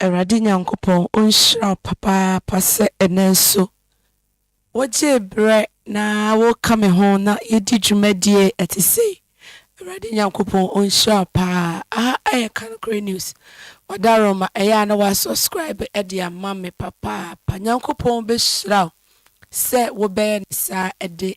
Awurade Nyankopɔn ɔnhyira wo papaapa sɛ ɛnnɛ nso wogyee berɛ na woka me ho na yɛdi dwumadie ɛte sei. Awurade Nyankopɔn ɔnhyira wo paa. Aha ɛyɛ Ka Nokorɛ News. Wadaroma ɛyɛ a na wa subscribe ɛde ama me papaapa. Nyankopɔn bɛhyira wo sɛ wobɛyɛ no saa ɛde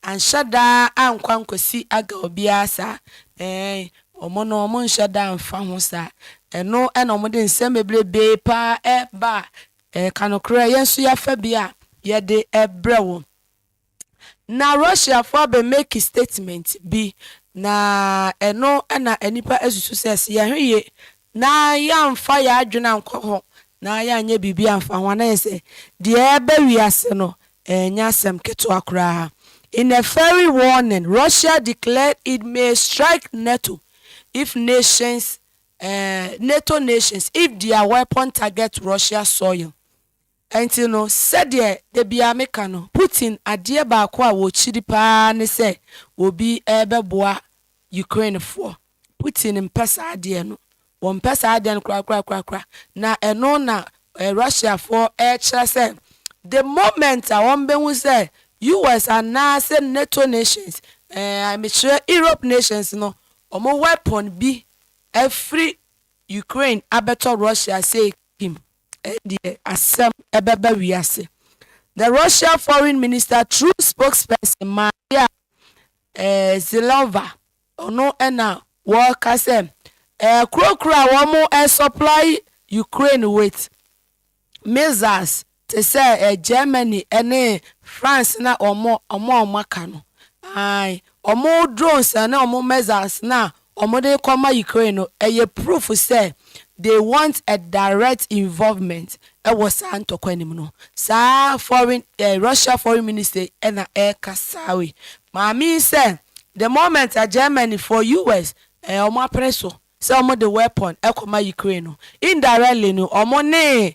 Anhyɛ da ankɔ ankɔsi Agga obiara saa, ɛɛn, wɔn no wɔn nhyɛ da mfa ho saa. Ɛno na wɔn de nsɛm bebrebee paa ɛreba a ɛreka nokorɛ, yɛn nso yɛafa bi a yɛde ɛrebrɛ wɔn. Na Russiafoɔ abɛ make statement bi, na ɛno na nnipa asusu sɛ, sɛ yɛhwɛ yie na yɛamfa yɛn adwene ankɔ ho, na yɛanyɛ biribi amfa ho a, na ɛyɛ sɛ deɛ ɛreba wiase no, ɛrenyɛ asɛm ketewa koraa. In a fiery warning, Russia declared it may strike NATO if nations, eh, NATO nations if their weapon target Russia soil. Ɛnti no, sɛdeɛ da biara me ka no, Putin adeɛ baako a wɔkyiri paa ne sɛ obi rebɛboa Ukraine foɔ. Putin mpɛ saa adeɛ no. Wɔmpɛ saa adeɛ no korakorakorakora. Na ɛno na Russia foɔ rekyerɛ sɛ the moment a wɔbɛhu sɛ US anaa sɛ NATO nations, ɛɛɛ mekyerɛ Europe nations no, wɔn weapon bi afiri Ukraine abɛtɔ Russia sei kim. Ɛndeɛ asɛm bɛba wiase. The Russia Foreign Minister through spokesperson Maria Zhilova, ɔno na wɔka sɛ ɛɛkurokuro a wɔn ɛɛsupply Ukraine with missiles te sɛ Germany ne France na wɔn a wɔaka no, ae, wɔn drones ne wɔn missiles no a wɔde rekɔma Ukraine no yɛ proof sɛ they want a direct involvement wɔ saa ntɔkwa no mu no. Saa foreign eh, Russia foreign minister yi na ɛreka saa wei. Maame yi sɛ the moment a Germany for US eh, wɔn apere so sɛ wɔde weapon kɔma Ukraine no, indirectly no wɔne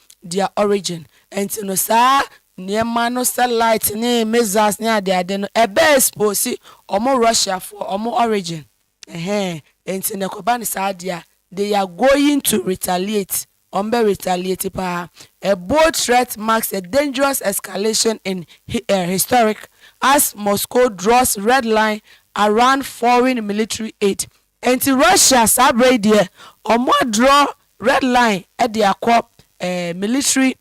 their origin nti no saa nneɛma no sɛ light ne missiles ne adeade no ɛbɛ expose ɔmo Russia foɔ ɔmo origin ɛhɛn nti no ɛkɔba no saa deɛ a they are going to retaliate ɔmo bɛ retaliate paa a bold threat marks a dangerous escalation in historic as Moscow draws red line around foreign military aid Ɛnti Russia saa berɛ yi deɛ ɔmo adrɔ red line de akɔ eh, military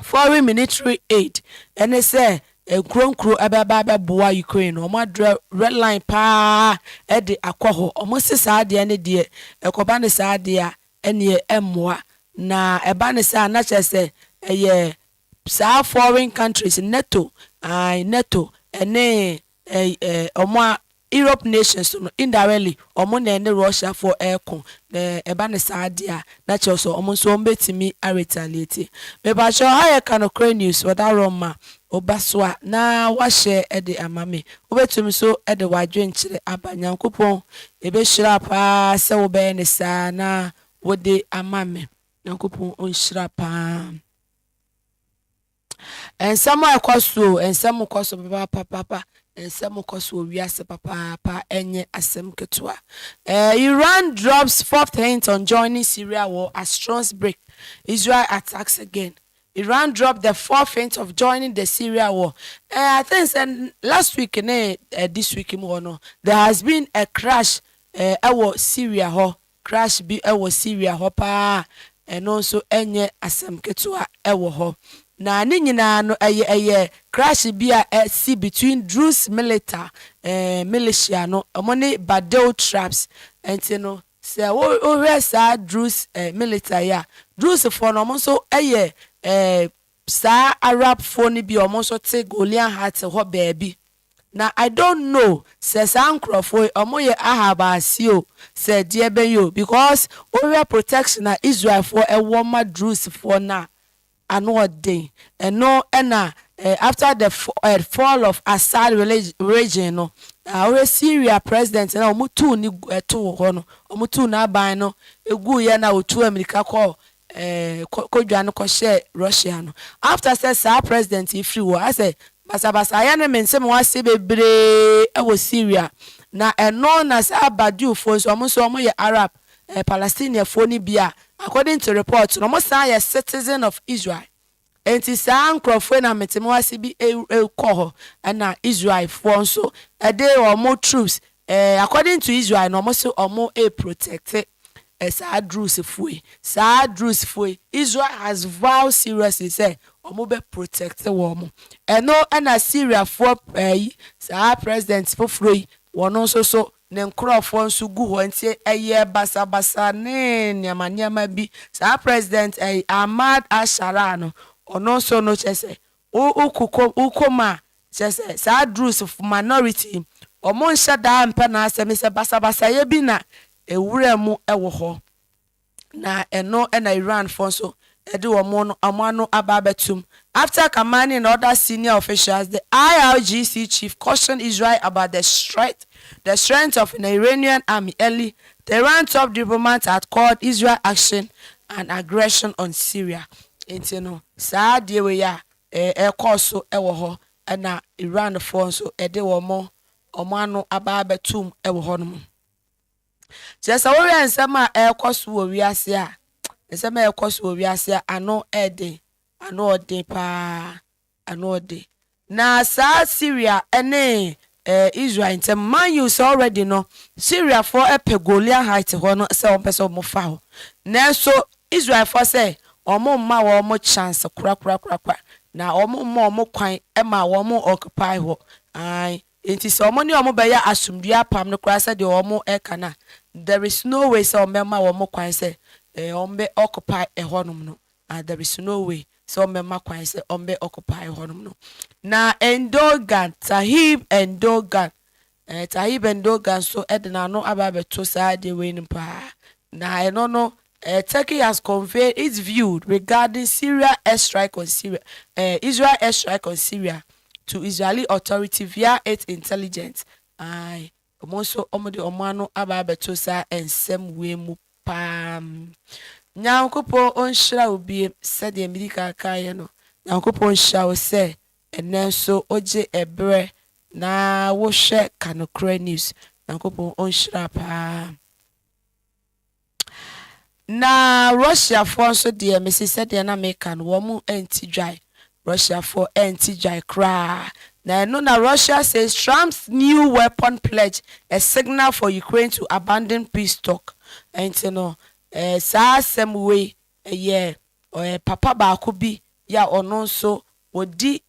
foreign military aid ɛne sɛ nkuro nkuro ɛbɛba abɛboa Ukraine no ɔmo adrɔ red line paa ɛde akɔ hɔ ɔmo se saa adeɛ ne deɛ ɛkɔba ne saa adeɛ a ɛneɛ ɛmmoa na ɛba ne saa na kyerɛ sɛ ɛyɛ saa foreign countries NATO ae NATO ɛne eh, eh, ɔmo a Europe nations so no indirectly ɔmo na ɛne Russia foɔ ɛɛko na ɛba no saa deɛ a na kyerɛ sɛ ɔmo nso ɔmo bɛtumi a retaliate. Mepakyɛw ha yɛka nokorɛ news wɔ da rɔ ma wo ba so a na wa share de ama me wo bɛtum nso de wadwenkyerɛ aba Nyankopɔn ɛbɛhyira paa sɛ wo bɛyɛ no saa na wo de ama me Nyankopɔn ɔnhyira paa. Nsɛm a ɛkɔ so o, nsɛm kɔ so papaapapa, nsɛm kɔ so wɔ wiase papaapa, ɛnyɛ asɛm ketewa. Eh, Iran drops fourth hint on joining Syria war as strons break, Israel attacks again. Iran dropped the fourth hint of joining the Syria war. Eh, I think sɛ last week ne eh, this week mu hɔ no, there has been a crash eh, ɛwɔ Syria hɔ, Crush bi wɔ Syria hɔ paa a ɛno nso nyɛ asɛm ketewa wɔ hɔ. Na ne nyinaa no ɛyɛ ɛyɛ crush bi a asi between Druze milita, eh, militia no, wɔn ne Badeu tribes. Ɛnti no, sɛ wo wohwɛ saa Druze eh, milita yi a, Druze foɔ no wɔn nso yɛ eh, saa Arab foɔ no bi a wɔn nso te Golean Heights hɔ baabi. Na I don't know sɛ saa nkorɔfoɔ yi ɔmo yɛ Ahab ase o sɛ deɛ bɛn o because wo hwɛ protection a Israel foɔ ɛwɔ ma Druze foɔ no a ano ɔden ɛno ɛna eh after the eh fall of Assad regime no na wo hwɛ Syria president no a ɔmo tuu ne gu ɛtoo hɔ no ɔmo tuu n'aban no ɛguuiɛ na ɔtuu ammirika kɔɔ eh, kɔ kɔ dwane kɔ hyɛ Russia no after sɛ saa president yi firi hɔ asɛ basabasayɛ no mente mo ase bebree ɛwɔ Syria na ɛno na saa Badou foɔ nso ɔmo nso ɔmo yɛ Arab eh, Palestinian foɔ no bi a according to report no ɔmo san yɛ citizen of Israel. Enti saa nkurɔfoɔ yi na mete mo ase bi rekɔ hɔ, ɛna Israelfoɔ nso de wɔn troops, eh, according to Israel no, wɔn se wɔn reprotecte eh, saa Drusfoɔ yi. Saa Drusfoɔ yi, Israel has vowed seriously sɛ wɔn bɛ protecte wɔn. Ɛno ɛna Syriafoɔ eh, yi, saa president foforɔ yi, wɔn nso so ne nkorɔfoɔ nso gu hɔ nti ɛyɛɛ basabasa ne nneɛma nneɛma bi. Saa President ɛyi Ahmad al-Sharaa no, ɔno nso no kyerɛ sɛ wo wokokɔ wokɔ mu a kyerɛ sɛ saa Druze foɔ minority yi wɔn nhyɛ da mpɛ n'asɛm sɛ basabasayɛ bi na ɛwura mu wɔ hɔ. Na ɛno na Iran foɔ nso de wɔn no wɔn ano aba abɛtom. After commanding other senior officials, the IRGC chief cautioned Israel about the strength the strength of the Iranian army early, the Iran top diplomat had called Israel action an aggression on Syria. Nti no, saa adeɛ wei a ɛrekɔɔ so wɔ hɔ na Iran foɔ nso de wɔn wɔn ano aba abɛtom wɔ hɔnom. Kyerɛ sɛ wohwɛ nsɛm a ɛrekɔ so wɔ wiase a, nsɛm a ɛrekɔ so wɔ wiase a ano yɛ den, ano yɛ den paa, ano yɛ den. Na saa Syria ne eh, Israel ntam, mind you sɛ already no, Syriafoɔ pɛ Golia Heights hɔ no sɛ wɔpɛ sɛ wɔfa hɔ. Nanso Israelfoɔ sɛ wɔn mma wɔn chance korakorakorakora, na wɔn mma wɔn kwan ma wɔn occupy hɔ. Ae. Enti sɛ wɔne wɔn bɛyɛ asomdwoe apam no koraa sɛdeɛ wɔreka no a, there is no way sɛ wɔbɛma wɔn kwan sɛ wɔbɛ occupy ɛhɔnom no, ah, there is no way sɛ wɔbɛma kwan sɛ wɔbɛ occupy ɛhɔnom no. Na Endogan, Tahib Endogan, eh, Tahib Endogan nso de n'ano aba abɛto saa adeɛ wei no paa, na ɛno no Eh, Turkey has conveyed its view regarding Syria airstrike on Syria, eh, Israel airstrike on Syria to Israeli authority via its intelligence, aye, wɔn nso wɔde wɔn ano aba abɛto saa nsɛm wei mu paa. Nyankopɔn ɔnhyira wo biem, sɛdeɛ medi kan kaeɛ no, Nyankopɔn nhyira wo sɛ ɛnnɛ nso wogye ɛberɛ na wohwɛ Ka Nokorɛ News. Nyankopɔn ɔnhyira paa. Na Russiafoɔ nso deɛ mese sɛdeɛ na meka no wɔn nte dwae, Russiafoɔ nte dwae koraa. Na ɛno na Russia says Trump's new weapon pledge a signal for Ukraine to abandon peace talk. Ɛnti no eh, saa asɛm wei ɛyɛ eh, papa baako bi ya ɔno nso wɔdi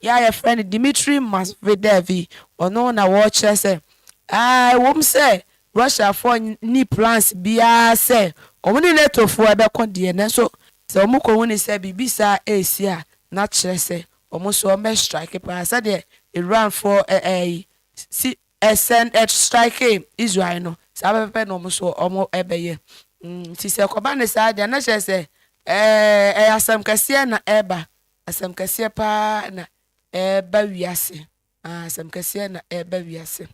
yi a wɔfrɛ no Dmitry Mazvidev yi, ɔno na wɔkyerɛ sɛ, Ah, ɛwom sɛ Russiafoɔ nni plans biara sɛ wɔn ne NATOfoɔ bɛko deɛ, nanso sɛ wɔkɔhu no sɛ biribi saa resi a, na kyerɛ sɛ wɔn nso wɔbɛ strike paa sɛdeɛ Iranfoɔ yi sɛn strikee Israel no, saa pɛpɛpɛ na wɔn nso wɔbɛyɛ. Nti sɛ ɛkɔba no saa deɛ a, na kyerɛ sɛ ɛyɛ asɛm kɛseɛ na ɛreba Asɛm kɛseɛ paa na ɛreba wiase. Ah, asɛm kɛseɛ na ɛreba wiase.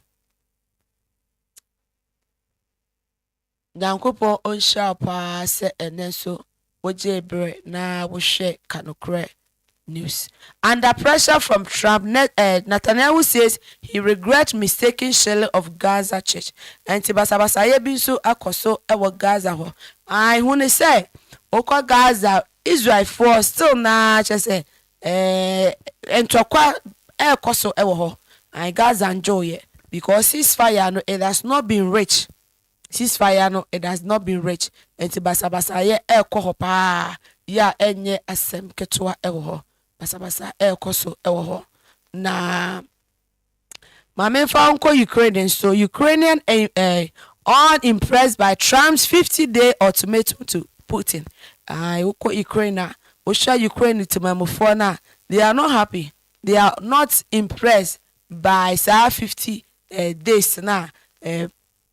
Nyankopɔn ɔnhyira wo paa sɛ ɛnɛ nso wogyee berɛ na wohwɛ Ka Nokorɛ News. Under pressure from Trump, ne, eh, Netanyahu says he regrets mistaking shelling of Gaza church. Ɛnti basabasayɛ bi nso akɔ so wɔ Gaza hɔ. Ae, hu no sɛ wokɔ Gaza Israel foɔ still naa kyerɛ sɛ ɛɛɛ ntɔkwa ɛɛkɔ so ɛwɔ hɔ and Gaza ndwoo yɛ because cease fire no it has not been rich cease fire no it has not been rich nti basabasa yɛ ɛɛkɔ hɔ paa yɛ a ɛnyɛ asɛm ketewa ɛwɔ hɔ basabasa ɛɛkɔ so ɛwɔ hɔ na Maame nfa wo nkɔ Ukraine nso, Ukrainian unimpressed by Trump's 50 day ultimatum to Putin. Aye, wokɔ Ukraine a, wohwɛ Ukraine temamufoɔ no a, they are not happy, they are not impressed by saa 50 days no a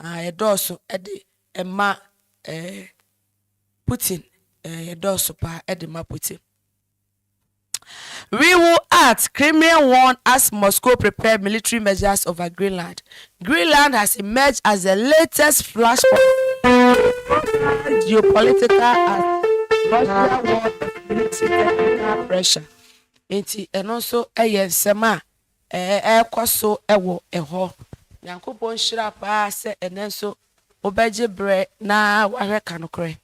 Ah, yɛdɔɔso de ma eh, Putin eh, yɛdɔɔso paa de ma Putin. We will act, Kremlin warn as Moscow prepare military measures over Greenland. Greenland has emerged as the latest flashpoint geopolitical as Russia war escalates technical pressure. Nti ɛno nso yɛ nsɛm a ɛrekɔ so wɔ hɔ. Nyankopɔn nhyira paa sɛ ɛnnɛ nso wobɛgye berɛ na wahwɛ Ka Nokorɛ.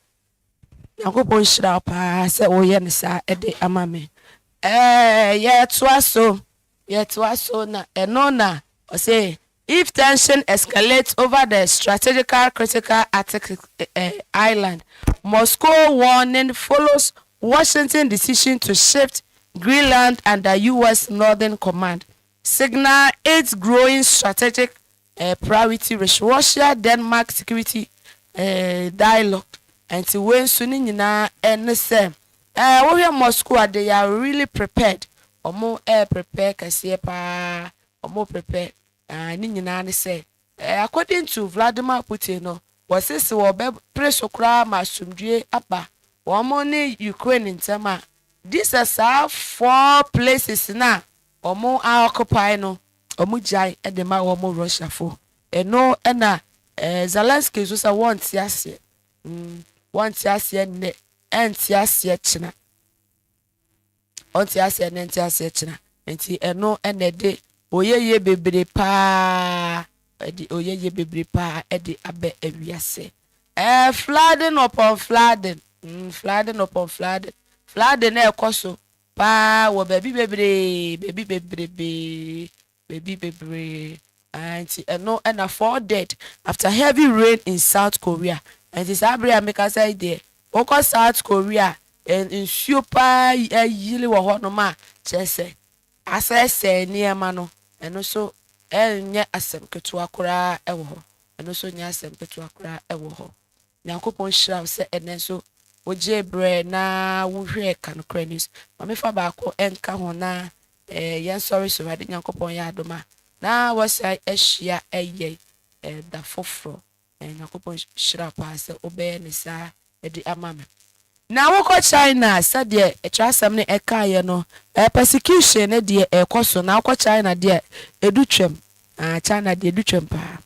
Nyankopɔn nhyira wo paa sɛ woyɛ no saa de ama me. Ɛɛɛɛ yɛtoa so, yɛtoa so na ɛno na ɔse If tension escalates over the strategical critical Arctic island, Moscow warning follows Washington decision to shift Greenland under US Northern Command, signal its growing strategic priority with Russia-Denmark security dialogue. Nti wei nso ne nyinaa ne sɛ wohwɛ Moscow a, they are really prepared, wɔn ɛɛprepare kɛseɛ paa wɔpɛpɛ na ne nyinaa ne sɛ according to Vladimir Putin no wɔse se wɔbɛ pere so koraa ma asomdwie aba wɔn ne Ukraine ntɛm a gye sɛ saa four places no a wɔn a occupy no wɔn gyae de ma wɔn Russia fo eno na Zelensky nso sɛ wɔnte aseɛ wɔnte aseɛ nnɛ ɛnte aseɛ kyena. Ɔnte aseɛ ne nte aseɛ kyena nti ɛno ɛna ɛde oyɛyie bebree paa ɛde oyɛyie bebree paa ɛde abɛ awiase ɛɛ flooding upon flooding mm flooding upon flooding flooding na ɛkɔ so paa wɔ baabi bebree baabi bebrebee baabi bebree aah nti ɛno na four dead after heavy rain in South Korea nti saa bere a mekasa yi deɛ wokɔ South Korea a nsuo paa ayiri wɔ hɔnom a kyerɛ sɛ asɛesɛe nneɛma no ɛno nso ɛnyɛ asɛm ketewa koraa wɔ hɔ ɛno nso nyɛ asɛm ketewa koraa wɔ hɔ Nyankopɔn nhyira wo sɛ ɛnnɛ nso wogyee berɛ na wohwɛɛ Ka Nokorɛ News ma mefa baako nka ho na Ɛɛ yɛn sɔre so Awurade Nyankopɔn yɛ adom a na wasan ahyia ɛyɛ ɛɛ da foforɔ ɛɛ Nyankopɔn hyira paa sɛ wobɛyɛ ne saa ɛde ama me. Na wokɔ China sɛdeɛ ɛtwerɛasɛm no ɛkaeɛ no ɛɛ persecution no deɛ ɛɛkɔ so na wokɔ China deɛ ɛdu twam aa China deɛ ɛdu twam paa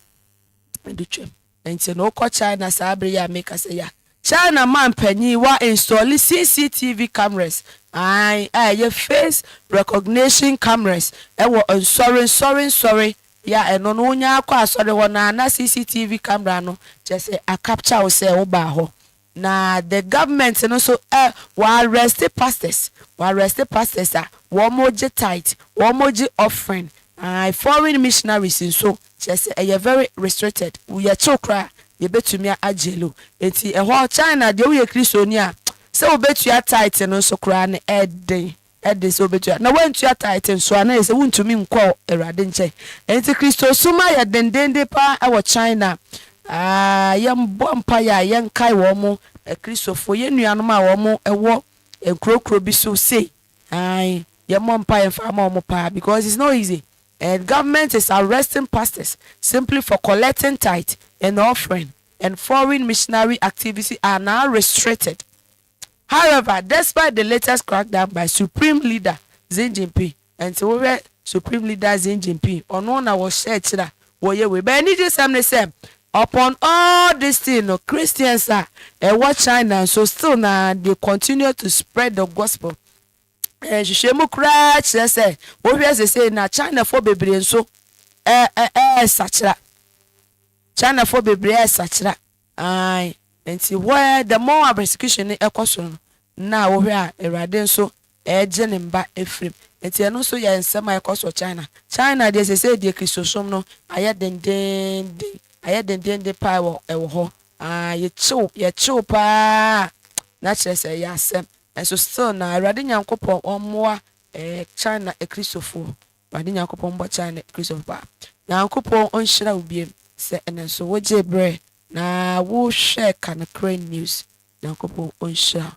ɛdu twam. Nti no wokɔ China saa bere yi a meka sɛ ya? China man panyin wa installe CCTV cameras ae a ɛyɛ face recognition cameras wɔ nsɔre nsɔre nsɔre bea a ɛno no wonya kɔ asɔre hɔ no a na CCTV camera no kyerɛ sɛ a capture wo sɛ wo baa hɔ. Na the government no so ɛ wɔ arrest pastors wɔ arrest pastors a wɔn gye tithe wɔn gye offering ae foreign missionaries nso kyerɛ sɛ ɛyɛ very restricted wo yɛ kyew koraa yɛ bɛ tumi a jail wo nti ɛhɔ China deɛ wo yɛ Christoni a sɛ wo bɛ tua tithe no nso koraa no ɛ den de sɛ wobetua. Na woantua tithe nso a, na ɛyɛ sɛ wuntumi nkɔ Awurade nkyɛn. Enti Kristosom ayɛ dendeenden paa wɔ China. A Yɛmmɔ mpae a yɛnkae wɔn Kristofo, yɛn nuanom a wɔwɔ nkurokuro bi so sei. Ae, yɛmmɔ mpae mfa mma wɔn paa, because it's not easy, and government is arresting pastors simply for collecting tithe and offering, and foreign missionary activity are now restricted. However, despite the latest crackdown by Supreme Leader Xi Jinping, ɛnti wo hwɛ Supreme Leader Xi Jinping, ɔno na wɔ hyɛ akyiri a wɔ yɛ wei. But anigye sɛm ne sɛ, upon all this thing no, Christians a ɛwɔ China nso still na they continue to spread the gospel. Nhwehwɛmu koraa kyerɛ sɛ, wo hwɛ sesei no a, Chinafoɔ bebree nso ɛ, ɛ, ɛɛsakyera. Chinafoɔ bebree ɛɛsakyera. Aane, enti hɔ ara the more a persecution no ɛkɔ so no, na wohwɛ a Awurade nso ɛregye ne mma afiri mu. Enti ɛno nso yɛ nsɛm a ɛkɔ so China. China deɛ seesei deɛ Kristosom no ayɛ dendeenden, ayɛ dendeenden paa ɛwɔ ɛwɔ hɔ. Aane, yɛkyew, yɛkyew paa na kyerɛ sɛ ɛyɛ asɛm. Nanso still na Awurade Nyankopɔn ɔmmoa ɛɛ China Akristofoɔ. Awurade Nyankopɔn bɔ kyɛɛ ne Kristo Ba. Nyankopɔn nhyira wo bio sɛ ɛno nso wo gyee berɛ na wo hwɛɛ Ka Nokorɛ News. Nyankopɔn nhyira wo.